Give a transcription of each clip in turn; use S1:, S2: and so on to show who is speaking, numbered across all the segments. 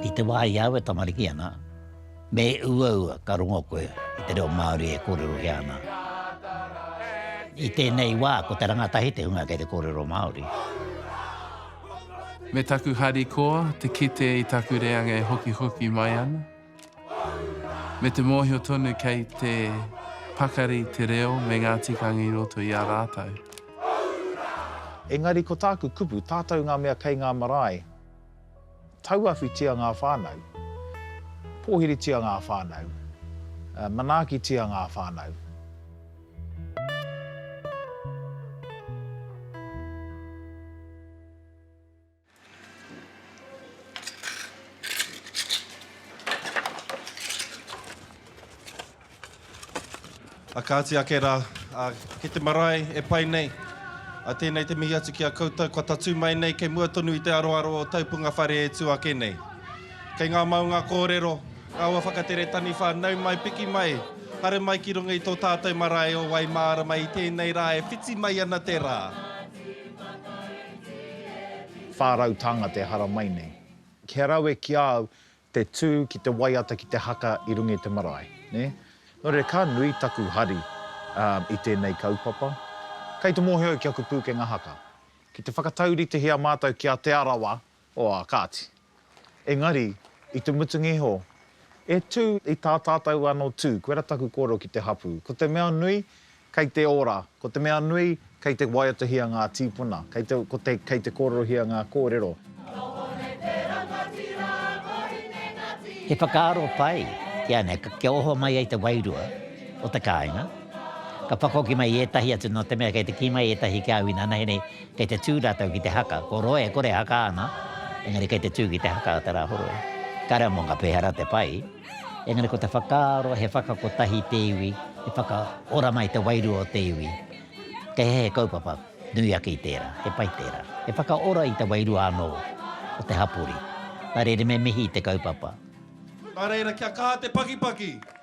S1: I te wā i a au e tamariki ana, me uaua ka rongo koe i te reo Māori e kōrerohia ana. I tēnei wā ko te rangatahi te hunga kei te kōrero Māori. Me taku harikoa te kite i taku reanga e hokihoki mai ana. Me te mōhio tonu kei te pakari te reo me ngā tikanga i roto i a rātou. Engari ko tāku kupu, tātou ngā mea kei ngā marae, tauawhitia ngā whānau, pōhiritia ngā whānau, manaakitia ngā whānau. A kāti ake rā, a, ki te marae e pai nei. A tēnei te mihi atu ki a koutou kua tatū mai nei kei mua tonu i te aroaro o tau punga whare e tū ake nei. Kei ngā maunga kōrero, ngā ua whakatere taniwha, nau mai, piki mai, haere mai ki runga i tō tātou marae o Waimārama i tēnei rā e whiti mai ana te rā. Whā rau tānga te haramai nei. Kia rawe ki a au te tū ki te waiata ki te haka i runga i te marae, nē? Nō reira, ka nui taku hari i tēnei kaupapa. Kei te mōhio ki aku pūkenga haka. Ki te whakatauritihia mātou ki a Te Arawa, oā, kāti. Engari, i te mutunga iho, E tū, i tā tātou anō tū, koirā taku kōrero ki te hapū. Ko te mea nui, kei te ora, ko te mea nui, kei te waiatahia ngā tīpuna, kei te, ko te, kei te kōrerohia ngā kōrero. He whakaaro pai, kia nei, kia oho mai ai te wairua o te kāinga, ka whakahoki mai ētahi atu nō te mea kei te kī mai ētahi ki au inanahi nei, Kei te tū rātou ki te haka, ko roa e kore e haka ana, engari kei te tū ki te haka a Te Rāhoroi. Kāre au mō ngā pēhara te pai, engari ko te whakaaro he whakakotahi te iwi, he whakaora mai te wairua o te iwi. Kei hea he kaupapa nui ake i tērā, he pai tērā. He whakaora i te wairua anō o te hapori. Nā reira me mihi i te kaupapa. Nā reira kia kaha te pakipaki,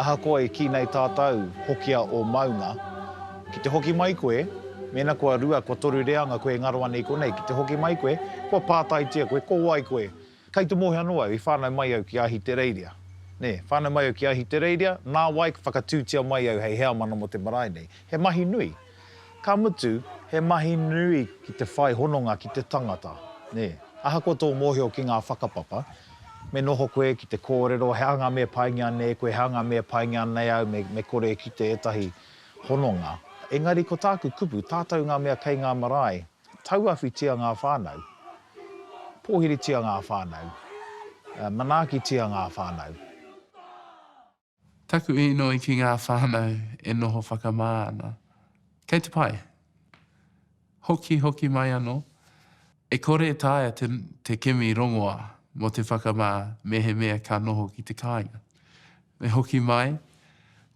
S1: Ahakoa i kī nei tātou, hokia ō maunga. Ki te hoki mai koe, mēnā kua rua, kua toru reanga koe e ngaro ana i konei, ki te hoki mai koe, kua pātaitia koe, ko wai koe? Kei Te Mohi anō au, i whānau mai au ki Ahitereiria. Nē, whānau mai au ki Ahitereiria, nā wai ka whakatūtia mai au hei heamana mō te marae nei. He mahi nui. Ka mutu, he mahi nui ki te whai hononga ki te tangata, nē. Ahakoa tō mōhio ki ngā whakapapa, me noho koe ki te kōrero he aha ngā mea paingia nei koe, he aha ngā mea paingia nei au, me, me kore e kite ētahi hononga. Engari ko tāku kupu, tātou ngā mea kei ngā marae, tauawhitia ngā whānau, pōhiritia ngā whānau, manaaki-tia ngā whānau. Taku inoi ki ngā whānau e noho whakamā ana. Kei te pai. Hoki hoki mai anō, e kore e taea te, te kimi rongoā mō te whakamā mehemea ka noho ki te kāinga. Me hoki mai,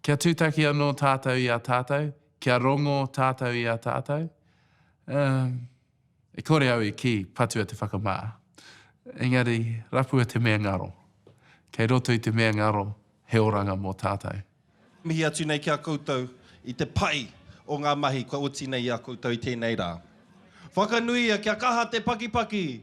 S1: kia tūtaki anō tātou i a tātou, kia rongō tātou i a tātou, ā, E kore au i kī, patua te whakamā. Engari, rapua te mea ngaro. Kei roto i te mea ngaro he oranga mō tātou. Mihi atu nei ki a koutou i te pai o ngā mahi kua oti nei i a koutou i tēnei rā. Whakanuia kia kaha te pakipaki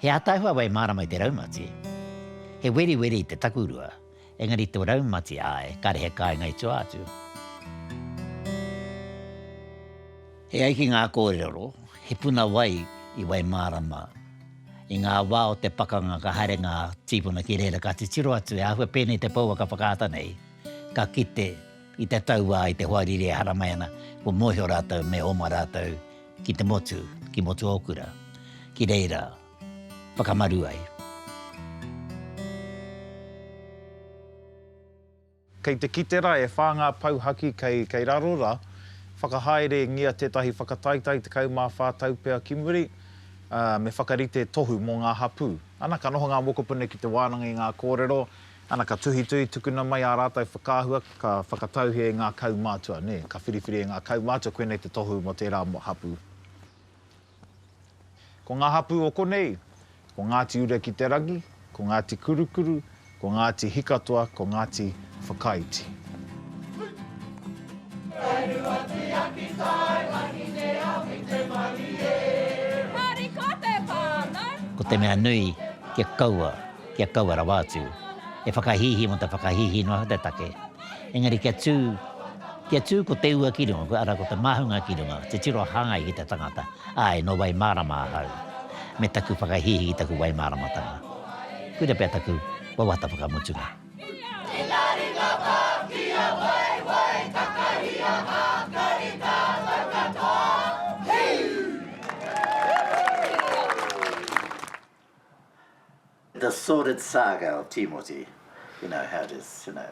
S1: He ataahua wai mārama i te raumati. He weriweri i te takurua, engari tō raumati āe, kāre he kāinga i tua atu. E ai ki ngā kōrero, he puna wai i wai mārama. I ngā wā o te pakanga ka haere ngā tīpuna ki reira ka titiro atu he āhua pēnei te pouaka whakaata nei, ka kite, I te tau wā i te hoariri e haramai ana, kua mōhio rātou me oma rātou ki te motu, ki Motuokura, ki reira whakamaru ai. Kei te kite ra e wha nga pou haki kei kei raro ra, whakahaere ngia tetahi whakataitai 14 tau pea ki muri, me whakarite tohu mo nga hapu. Ana ka noho nga mokopuna ki te wananga i nga korero, Ana ka tuhituhi tukuna mai ā rātou whakaahua ka whakatauhia e ngā kaumātua, nē, ka whiriwhiri e ngā kaumātua koinei te tohu mō tērā hapū. Ko ngā hapū o konei, ko Ngāti Ura-ki-te-rangi, ko Ngāti Kurukuru, ko Ngāti Hikatoa, ko Ngāti Whakaiti. Whainua tiaki tae wahine a White Marie. Harikote whānau. Ko te mea nui kia kaua. kia kaua rawa atu e whakahīhī mō te whakahīhī noa o te take, engari kia tū, kia tū ko te ua ki runga, arā, ko te māhunga ki runga, te tiro hāngai ki te tangata, āe, nō Waimārama ahau, me taku whakahīhī ki taku Waimāramatanga. Koira pea taku wawata whakamutunga. The sordid saga of Timoti, you know how it is, you know.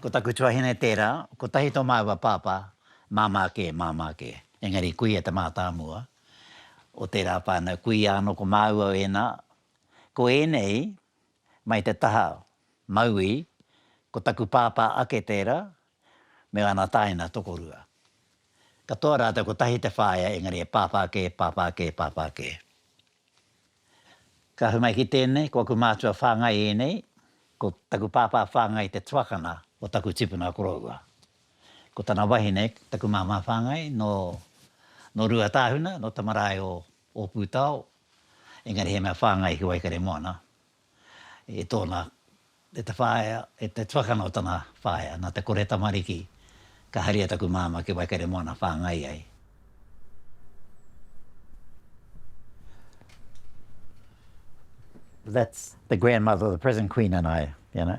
S1: Ko taku tuahine tērā, kotahi tō māua pāpā, māmā kē, māmā kē. Engari kuia te mātāmua o tērā whānau, kuia anō ko māua ēnā. Ko ēnei, mai te taha, mauī, ko taku pāpā ake tērā, me ana tāina tokorua. Katoa rātou kotahi te whāea engari he pāpā kē, pāpā kē, pāpā kē. Ka ahu mai ki tēnei, ko aku mātua whāngai ēnei, ko taku pāpā whāngai te tuakana o taku tipuna koroua. Ko tana wahine, taku māmā whāngai, nō, nō Ruatāhuna, nō Tamarae o Ōpūtao, engari he mea whāngai ki Waikaremoana. i tōna, e te whaea, e te tuakana o tana whaea, nā te kore tamariki, ka haria taku māmā ki Waikaremoana whāngai ai. That's the grandmother of the present Queen and I, you know.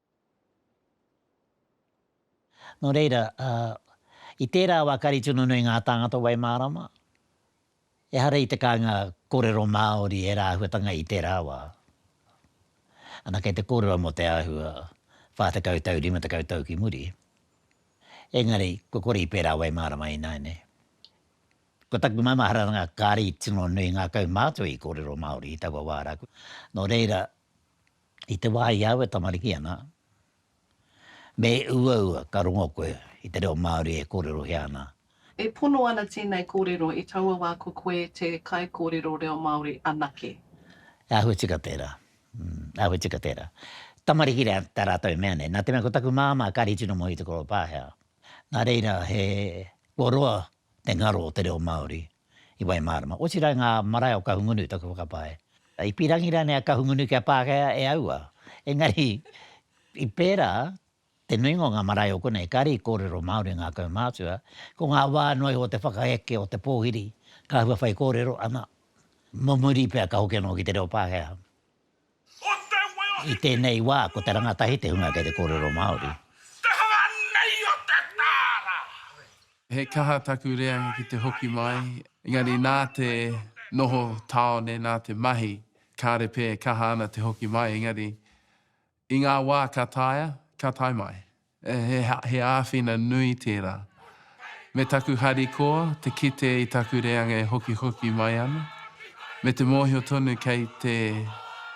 S1: Nō reira, i tērā wā ka rite nunui ngā tāngata Waimārama, ehara i te kāinga kōrero Māori ērā āhuatanga i tērā wā. Ana kei te kōrero mō te āhua whā tekau tau, rima tekau tau ki muri. Engari, kua kore i pērā Waimārama ināianei. Ko taku maumaharatanga kāre i tino nui ngā kaumātua i kōrero Māori i taua wā rā. Nō reira, I te wā i au e tamariki ana, me uaua ka rongo koe i te reo Māori e kōrerohia ana. E pono ana tēnei kōrero i taua wā ko koe te kaikōrero reo Māori anake. E āhua tika tērā, āhua tika tērā. Tamariki tā rātou e mea nei, nā te mea ko taku māmā kāri tino moe i te koropa, hea. Nā reira, he kua roa te ngaro o te reo Māori i Waimārama. Otirā i ngā marae o Kahungunu, taku whakapae. I pīrangi rānei a Kahungunu ki a Pākehā e aua? Engari, i pērā, te nuinga o ngā marae o konei, kāre i kōrero Māori ngā kaumātua. Ko ngā wā noa iho o te whakaeke o te pōhiri, ka hua whaikōrero, ana, mō muri pea ka hoki anō ki te reo Pākehā. I tēnei wā, ko te rangatahi te hunga kei te kōrero Māori. Te hanga nei o te tāra! He kaha taku reanga ki te hoki mai, engari nā te noho tāone, nā te mahi, kāre pē e kaha ana te hoki mai, engari i ngā wā ka taea, ka tae mai. He āwhina nui tērā. Me taku harikoa te kite i taku reanga e hokihoki mai ana, me te mōhio tonu kei te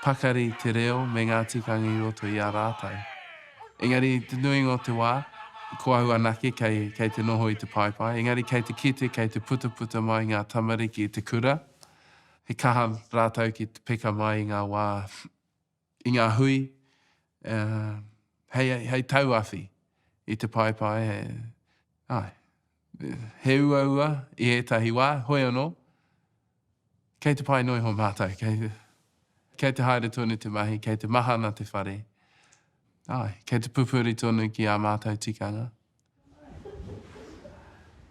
S1: pakari te reo me ngā tikanga i roto i a rātou. Engari, te nuinga o te wā, ko au anake kei te noho i te paepae, engari kei te kite, kei te putaputa mai ngā tamariki i te kura, he kaha rātou ki te peka mai i ngā wā i ngā hui, hei, hei tauawhi i te paepae, he, ai, he uaua i ētahi wā, hoi anō, kei te pae noa iho mātou, kei, kei te haere tonu te mahi, kei te mahana te whare, ai, kei te pupuri tonu ki ā mātou tikanga.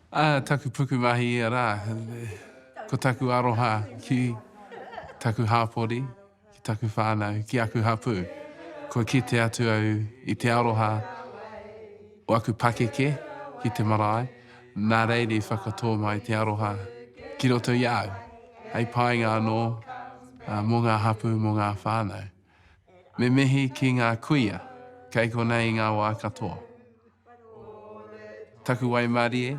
S1: Ā, taku pukumahi ia rā, ko taku aroha ki taku hāpori, ki taku whānau, ki aku hapū. Kua kite atu au i te aroha o aku pakeke ki te marae, nā reira i whakatō mai te aroha ki roto i a au, hei painga anō mō ngā hapū, mō ngā whānau. Me mihi ki ngā kuia kei konei i ngā wā katoa. Taku waimarie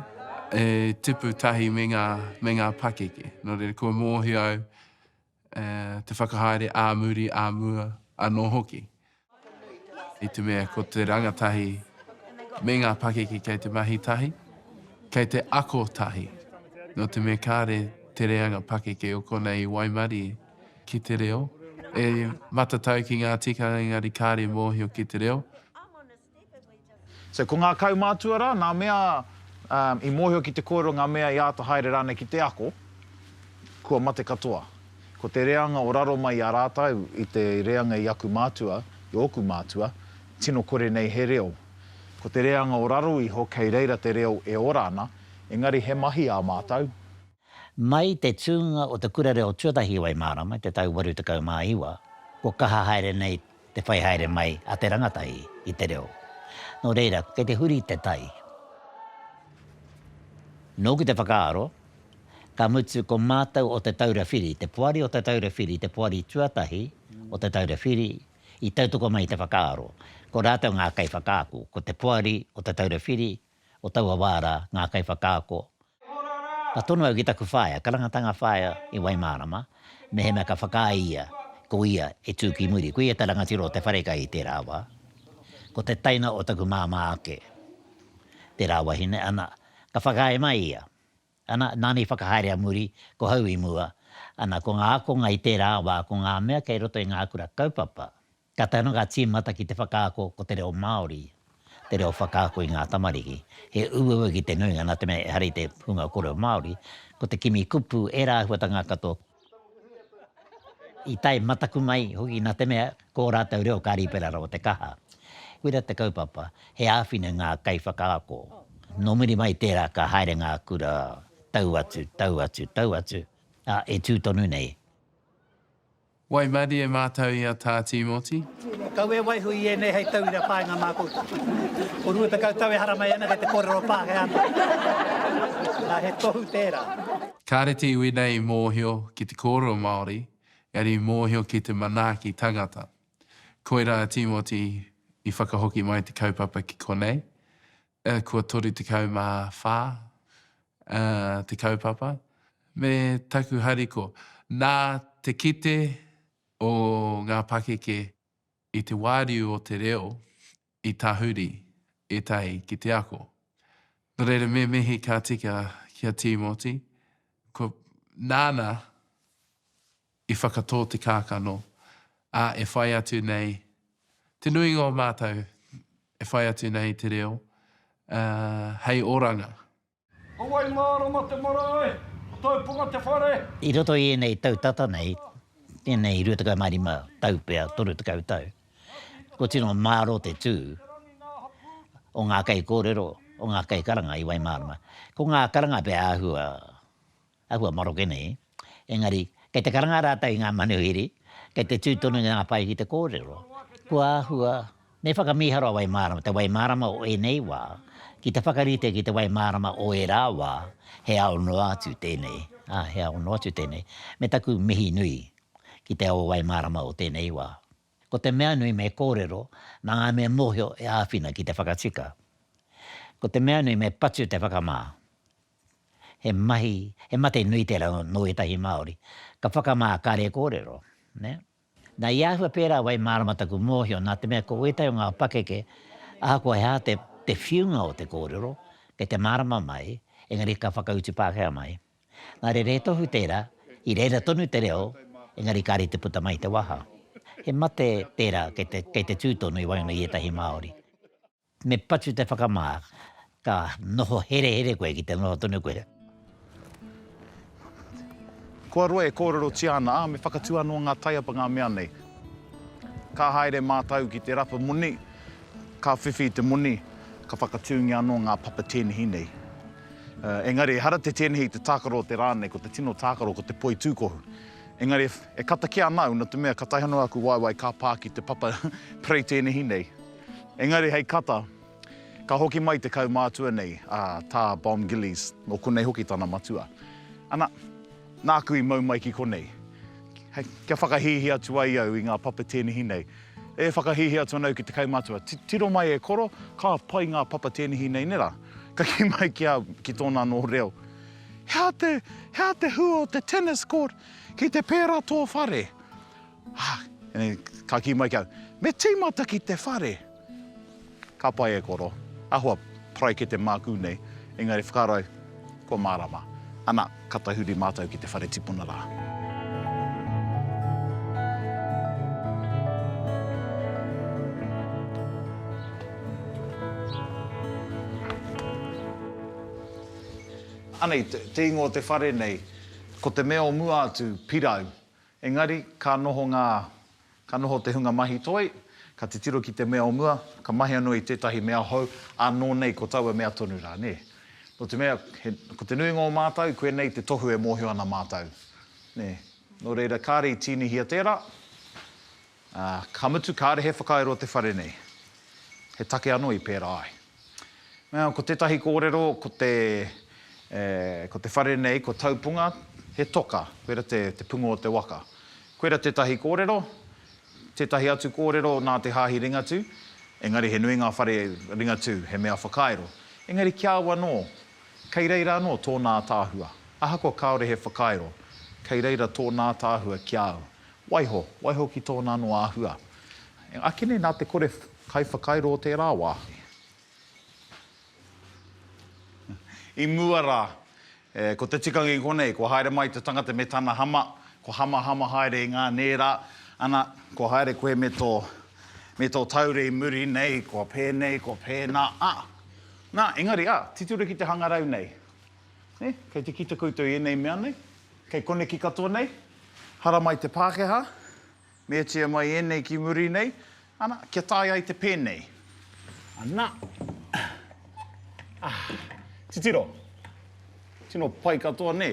S1: e tipu tahi me ngā, me ngā pakeke. Nō reira, kua mōhio au e, te whakahaere ā muri, ā mua anō hoki. I te mea ko te rangatahi me ngā pakeke kei te mahi tahi, kei te ako tahi. Nō te mea kāre te reanga pakeke o konei i waimarie. ki te reo, e matatau ki ngā tikanga engari kāre mōhio ki te reo. So ko ngā kaumātua rā, nā mea i mōhio ki te kōrero ngā mea i āta haere rānei ki te ako, kua mate katoa. Ko te reanga o raro mai i a rātau i te reanga i aku mātua, i ōku mātua, tino kore nei he reo. Ko te reanga o raro iho kei reira te reo e ora ana, engari he mahi ā mātau, Mai te tūnga o te Kura Reo Tuatahi o Waimārama i te tau 89, kua kaha haere nei te whai haere mai a te rangatahi i te reo. Nō reira, kei te huri te tai. Nōku te whakaaro, ka mutu ko mātou o Te Taura Whiri, te poari o Te Taura Whiri, te poari tuatahi o Te Taura Whiri, i tautoko mai i te whakaaro, ko rātou ngā kaiwhakaako, ko te poari o Te Taura Whiri, o taua wā rā, ngā kaiwhakaako. Ka tono au ki taku whaea, karangatanga whaea i Waimārama, mehemea ka whakaae ia, ko ia e tū ki muri. Koia te rangatira o te wharekai i tērā wā. Ko te taina o taku māmā ake tērā wahine, ana, ka whakaae mai ia. Ana, nāna i whakahaere a muri, ko hau i mua. Ana, ko ngā ākonga i tērā wā, ko ngā mea kei roto i ngā kura kaupapa, Ka tae noa ngā tīmata ki te whakaako ko te reo Māori te reo whakaako i ngā tamariki. He uaua ki te nuinga nā te mea ehara i te hunga kōrero Māori, ko te kimi kupu ērā āhuatanga katoa i tae mataku mai hoki nā te mea ko ō rātou reo ka rīpera rawa te kaha. Koira te kaupapa, he āwhina ngā kaiwhakaako. Nō muri mai i tērā ka haere ngā kura tau atu, tau atu, tau atu, ā, e tū tonu nei. Wai Madi e mātau i a Tā Tīmoti. Kau e waiho i ēnei hei tauira whāinga mā koutou. Ko rua tekau tau e haramai ana kei te kōrero Pākehā mai. Nā, he tohu tērā. Kāre te iwi nei i mōhio ki te kōrero Māori, engari i mōhio ki te manaaki tangata. Koirā a Tīmoti i whakahoki mai te kaupapa ki konei, kua 34 te kaupapa, me taku hariko, nā te kite o ngā pakeke i te wāriu o te reo i tahuri ētahi ki te ako. Nō reira, me mihi ka tika ki a Tīmoti, kua, nāna I whakatō te kākano, ā, e whai atu nei te nuinga o mātou, e whai atu nei te reo, ā, hei oranga. Ko wai mārama te marae, ko tōu ponga te whare. I roto i ēnei tau tata nei, ēnei rua tekau mā rima tau pea, toru tekau tau, kua tino mārō te tū o ngā kaikōrero, o ngā kaikaranga i Waimārama. Ko ngā karanga pea āhua Āhua maroke nei, engari, kei te karanga rātou i ngā manuhiri, kei te tū tonu i ngā pae ki te kōrero. Kua āhua, me whakamīharo a Wai Mārama, te wai mārama o ēnei wā, ki te whakarite ki te wai mārama o ērā wā, he ao noa atu tēnei, ā, he ao noa atu tēnei, me taku mihi nui ki te ao wai mārama o tēnei wā. Ko te mea nui me kōrero mā ngā mea mōhio e āwhina ki te whakatika. Ko te mea nui me patu te whakamā, he mahi, he mate nui tērā nō ētahi Māori, ka whakamā kare kōrero, nē. Nā, i āhua pērā wai mārama taku mōhio nā te mea ko ētahi o ngā pakeke ahakoa he aha te whiunga o te kōrero, kei te mārama mai, engari ka whakautu Pākehā mai. Nā reira he tohu tērā, i reira tonu te reo, engari kāre te puta mai te waha. He mate tērā kei te tū tonu i waenga i ētahi Māori. Me patu te whakamā, ka noho herehere koe ki te noho tonu koe. Kua roa e kōrerotia ana, ā, me whakatū anō ngā taiapa ngā mea nei. Ka haere mātau ki te rapa moni, ka whiwhi i te moni, ka whakatūngia anō ngā papa tēnehi nei. Engari ehara te tēnehi i te tākaro o te rā nei, ko te tino tākaro ko te poi tūkohu. Engari e kata kē ana au, nā te mea ka taihanoa aku waewae ka pā ki te papa perei tēnehi nei. Engari hei kata, ka hoki mai te kaumātua nei, a Tā Bomb Gillies, nō konei hoki tana matua. Ana, nāku i mau mai ki konei. Hei, kia whakahīhī atu ai au i ngā papa tēnihi nei. E whakahīhī atu ana au ki te kaumātua, tiro mai e koro, ka pai ngā papa tēnihi nei nera? Ka kī mai ki a, ki tōna anō reo, He aha te, he aha te hua o te tennis court ki te pērā tō whare? Ka kī mai ki au, Me tīmata ki te whare! Ka pai e koro, ahua paraikete māku nei, engari whakaaro kua mārama. Ana, ka tahuri mātou ki te whare tipuna rā. Anei, te ingoa o te whare nei, ko te mea o mua atu, Pirau. Engari, ka noho ngā, ka noho te hunga mahi toi, ka titiro ki te mea o mua, ka mahi anō i tētahi mea hou, ā, nō nei ko taua mea tonu rā, nē. Nō te mea, he, ko te nuinga o mātou, koinei te tohu e mōhio ana mātou, nē. Nō reira, kāre i tīnihia tērā. Ā, ka mutu kāre he whakairo te whare nei. He take anō i pērā ai. Ā, ko tētahi kōrero, ko te, e, ko te whare nei, ko Taupunga, he toka, koira te, te punga o te waka. Koira tētahi kōrero, tētahi atu kōrero nā te Hāhi Ringatū, engari he nui ngā whare Ringatū, he mea whakairo. Engari ki a au anō, kei reira anō tōnā ātaahua. Ahakoa kāore he whakairo, kei reira tōnā ātaahua ki a au. Waiho, waiho ki tōna anō āhua. Ake nei nā te kore kaiwhakairo o tērā wāhi. I mua rā, ko te tikanga i konei, kua haere mai te tangata me tana hama, kua hamahama haere i ngā nērā, ana, kua haere koe me tō, me tō taure i muri nei, kua pēnei, kua pēnā, ā. Nā, engari, ā, titiro ki te hangarau nei. Nē? Kei te kite koutou i ēnei mea nei? Kei koneki katoa nei? Haramai te Pākehā, meatia mai ēnei ki muri nei, ana, kia tae ai te pēnei. Ana. Ah. Titiro. Tino pai katoa, nē?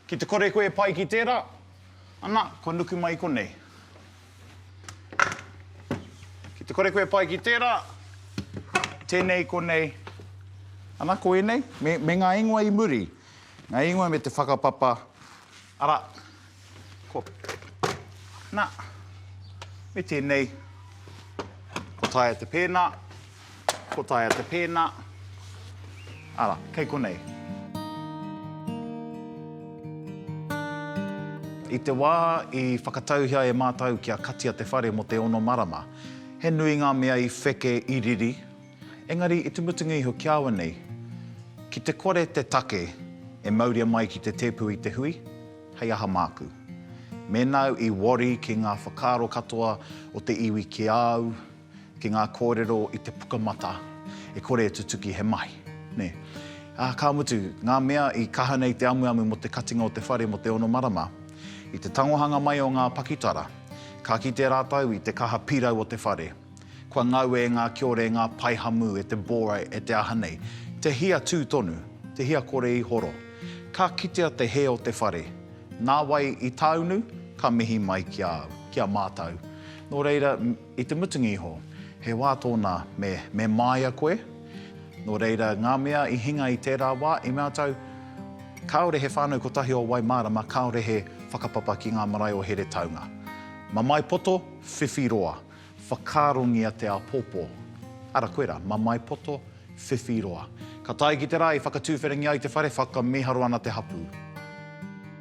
S1: Ki te kore koe e pai ki tērā, ana, kua nuku mai i konei. Ki te kore koe e pai ki tērā, tēnei i konei, ana, ko ēnei, me, me ngā ingoa i muri, ngā ingoa me te whakapapa, arā, ko, nā, me tēnei, ko taea te pēnā, Ko taea te pēnā. Ara, kei konei. I te wā i whakatauhia e mātou kia katia te whare mō te ono marama, he nui ngā mea i wheke, i riri. Engari, i te mutunga iho ki awa nei, ki te kore te take e mauria mai ki te tēpu i te hui, hei aha māku? Mēnā au i worry ki ngā whakaaro katoa o te iwi ki a au, Ki ngā kōrero i te pukamata e kore e tutuki he mahi, nē. Ā, ka mutu, ngā mea i kaha nei te amuamu mō te katinga o te whare mō te ono marama, i te tangohanga mai o ngā pakitara, ka kite rātou i te kaha pirau o te whare. Kua ngau e ngā kiore ngā pae hamu e te Borai e te aha nei, te hia tū tonu, te hia kore i horo. Ka kitea te hē o te whare. Nā wai i tāunu? Ka mihi mai ki a au, ki a mātou. Nō reira, I te mutunga iho, he wā tōna me me māia koe. Nō reira, ngā mea i hinga i tērā wā, i mea tau, Kāore he whānau kotahi o Waimārama, kāore he whakapapa ki ngā marae o Heretaunga. Mamae poto, whiwhi roa, whakaarongia te āpōpō. Ara koe rā, mamae poto, whiwhi roa. Ka tae ki te rā i whakatuwherangi ai te whare, whakamiharo ana te hapū.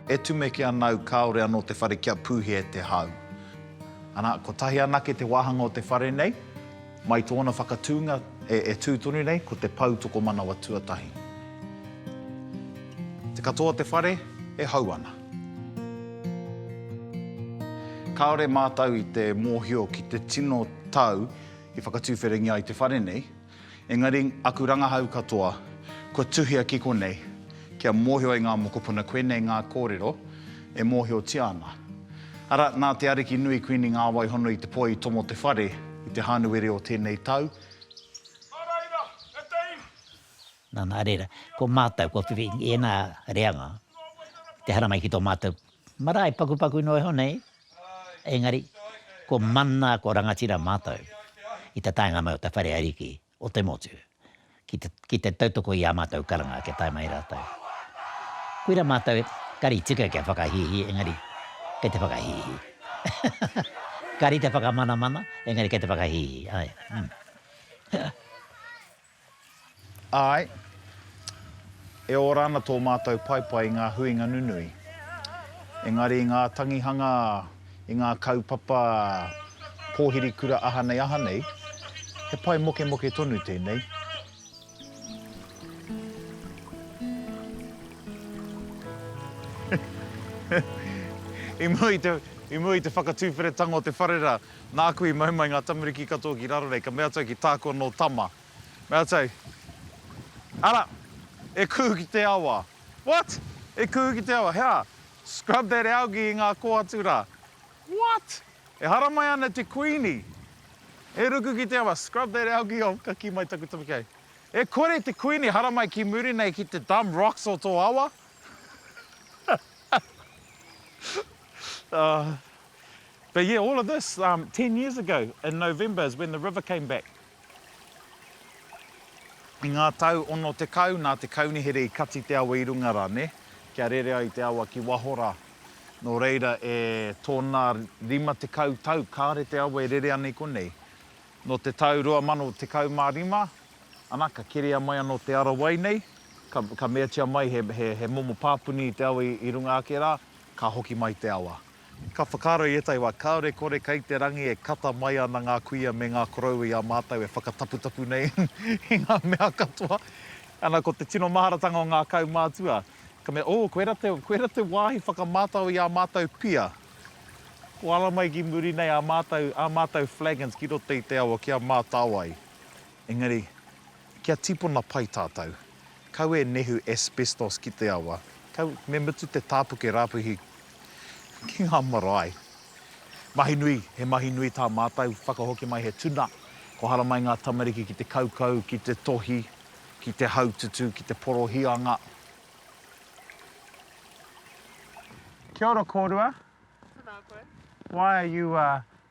S1: E tumeke ana au kāore anō te whare kia pūhia e te hau. Ana, kotahi anake te wāhanga o te whare nei, mai tōna whakatūnga e tū tonu nei, ko te pou tokomanawa tuatahi. Te katoa o te whare e hau ana. Kāore mātou i te mōhio ki te tino tau i whakatuwherangi ai te whare nei. Engari, aku rangahau katoa, kua tuhia ki konei, kia mōhio e ngā mokopuna koinei ngā kōrero e mōhiotia ana. Ara, nā te Ariki nui Kuini ngā wai hono i te poi i tomo te whare i te Hānuere o tēnei tau, Nana, reira, ko mātou, kua whiwhi i ēnā reanga, te haramai ki tō mātou marae pakupaku noa iho nei, Engari, ko Mana, ko Rangatira mātou i te taenga mai o te whare ariki o te motu ki te tautoko i ā mātou karanga kia tae mai rātou. Koira mātou kari tika kia whakahīhī engari kei te whakahīhī. Kari te whakamanamana engari kei te whakahīhī, āe. Āe, e ora ana tō mātou paepae i ngā huinga nunui. Engari i ngā tangihanga, i ngā kaupapa pōhiri kura aha nei aha nei, he pae mokemoke tonu tēnei. I mua i te whakatuwheretanga o te whare rā, Nāku i mau mai ngā tamariki katoa ki raro nei, ka mea atu au ki tāku anō tama, mea atu au, Ara, e kuhu ki te awa. What? E kuhu ki te awa? He aha? Scrub that algae i ngā kō atu rā. What? E haramai ana te Kuini, e ruku ki te awa, scrub that algae off, ka kī mai taku tamariki, Hei, e kore te Kuini e haramai ki muri nei ki te dumb rocks o tō awa? But yeah, all of this, um, ten years ago in November is when the river came back. I ngā tau ono tekau, nā te kaunihere i kati te awa i runga rā, nē, kia rere ai te awa ki waho rā. Nō reira, e tōna rima tekau tau, kāre te awa e rere ana i konei. Nō te tau 2015, ana, ka keria mai anō te ara wai nei, ka, ka meatia mai he, he, he momo pāpuni i te awa i, i runga ake rā, Ka hoki mai te awa. Ka whakaaro i ētahi wā, kāore kore kei te rangi e kata mai ana ngā kuia me ngā koroua i a mātou e whakataputapu nei i ngā mea katoa. Ana, ko te tino maharatanga o ngā kaumātua, ka mea, Oh, koera te, koera te wāhi whakamātao i ā mātou pia. Koara mai ki muri nei ā mātou, ā mātou flagons ki roto i te awa kia mātao ai. Engari. Kia tipona pai tātou. Kau e nehu asbestos ki te awa. Kau me mutu te tāpuke rāpuhi ki ngā marae. Mahi nui, he mahi nui tā mātou, whakahoki mai he tuna, kohara mai ngā tamariki ki te kaukau, ki te tohi, ki te haututu, ki te porohianga. Kia ora kōrua. Tēnā koe. Why are you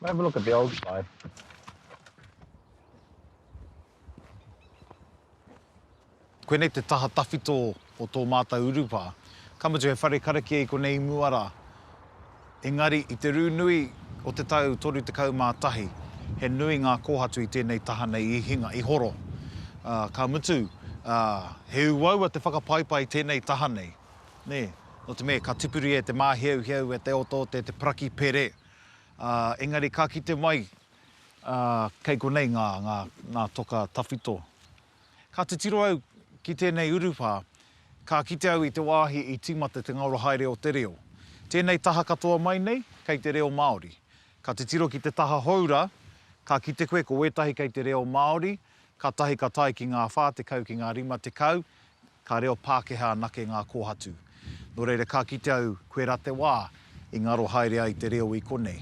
S1: We'll have a look at the old side. Koinei te taha tawhito o tō mātou urupā. Ka mutu he whare karakia i konei i mua rā. Engari, i te rū nui o te tau 31, he nui ngā kōhatu i tēnei taha nei i hinga, i horo. Ā, ka mutu, ā, he uaua te whakapaipai i tēnei taha nei. Nē, nō te mea ka tipuri e te māhiauhiau, e te otoote, te paraki pere, ā, engari ka kite mai, ā, kei konei ngā, ngā, ngā toka tawhito. Ka titiro au ki tēnei urupā, ka kite au i te wāhi i tīmata te ngaora haere o te reo. Tēnei taha katoa mai nei, kei te reo Māori. Ka titiro ki te taha hou rā, ka kite koe ko wētahi kei te reo Māori, kātahi ka tae ki ngā whā tekau ki ngā rima tekau, Ka reo Pākehā anake ngā kōhatu. Nō reira ka kite au koirā te wā i ngaro haere ai te reo i konei.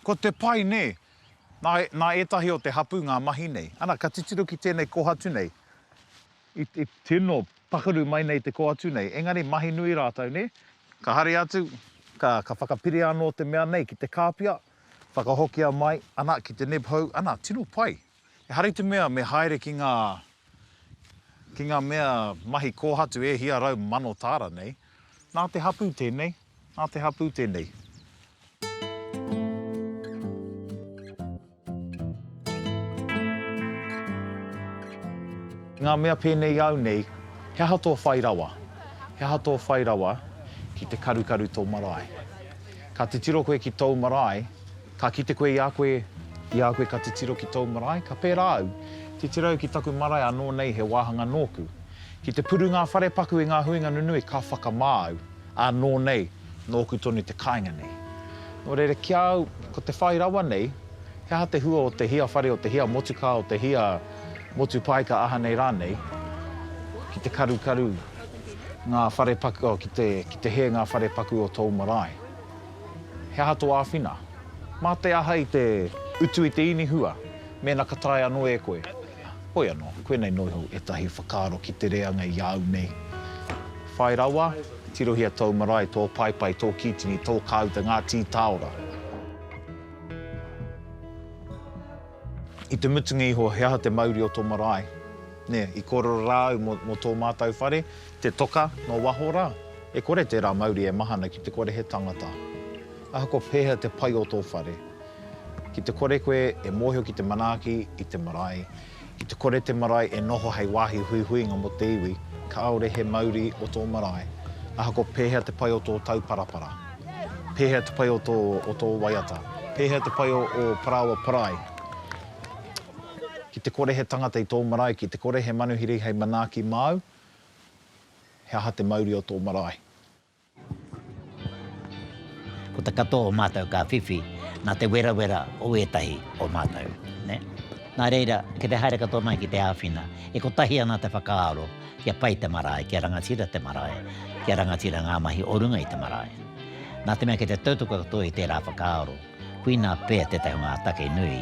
S1: Ko te pai nē, nā, nā ētahi o te hapū ngā mahi nei. Ana, ka titiro ki tēnei kōhatu nei, i, i tino pakaru mai nei te kōhatu nei, engari mahi nui rātou, nē? Ka haere atu, ka, ka whakapiria anō te mea nei ki te kāpia, whakahokia mai, ana, ki te nib hou, ana, tino pai. Ehara i te mea me haere ki ngā, ki ngā mea mahi kōhatu e hia rau mano tāra nei. Nā te hapū tēnei, nā te hapū tēnei. Ngā mea pēnei i au nei, he aha tō whai rawa? He aha tō whai rawa ki te karukaru tō marae? Ka titiro koe ki tōu marae, Ka kite koe i a koe, i a koe ka titiro ki tōu marae, ka pērā au, titiro au ki taku marae anō nei he wāhanga nōku. Ki te puru ngā whare paku i ngā huinga nunui ka whakamā au, ā, nō nei, nōku tonu te kāinga nei. Nō reira ki a au, ko te whai rawa nei, he aha te hua o te hia whare, o te hia motukā, o te hia motu paeka aha nei rānei, ki te karukaru ngā whare paku, oh, ki te, ki te hē ngā whare paku o tōu marae. He aha tō āwhina? Mā te aha i te utu i te inihua, mēnā ka taea anō e koe? Hoi anō, koinei nō iho ētahi whakaaro ki te reanga i a au nei. Whai rawa, tirohia tōu marae, tō paepae, tō kītini, tō kāuta, ngā tītāora. I te mutunga iho, he aha te mauri o tō marae? Nē, i kōrero rā au mō tō mātou whare, Te toka, nō waho rā, e kore tērā mauri e mahana ki te kore he tangata. Ahakoa pēhea te pai o tō whare, ki te kore koe e mōhio ki te manaaki i te marae, ki te kore te marae e noho hei wāhi huihuinga mō te iwi, kāore he mauri o tō marae. Ahakoa pēhea te pai o tō tauparapara, pēhea te pai o tō, o tō waiata, pēhea te pai o ō parāoa parai, ki te kore he tangata i tō marae, ki te kore he manuhiri hei manaaki māu, He aha te mauri o tō marae? Ko te katoa o mātou ka whiwhi nā te werawera o ētahi o mātou. Nā reira, ki te haere katoa mai ki te āwhina, e kotahi ana te whakaaro kia pai te marae, kia rangatira te marae, kia rangatira ngā mahi o runga i te marae. Nā te mea ki te tautoko katoa i tērā whakaaro, koinā pea tētahi o ngā take nui,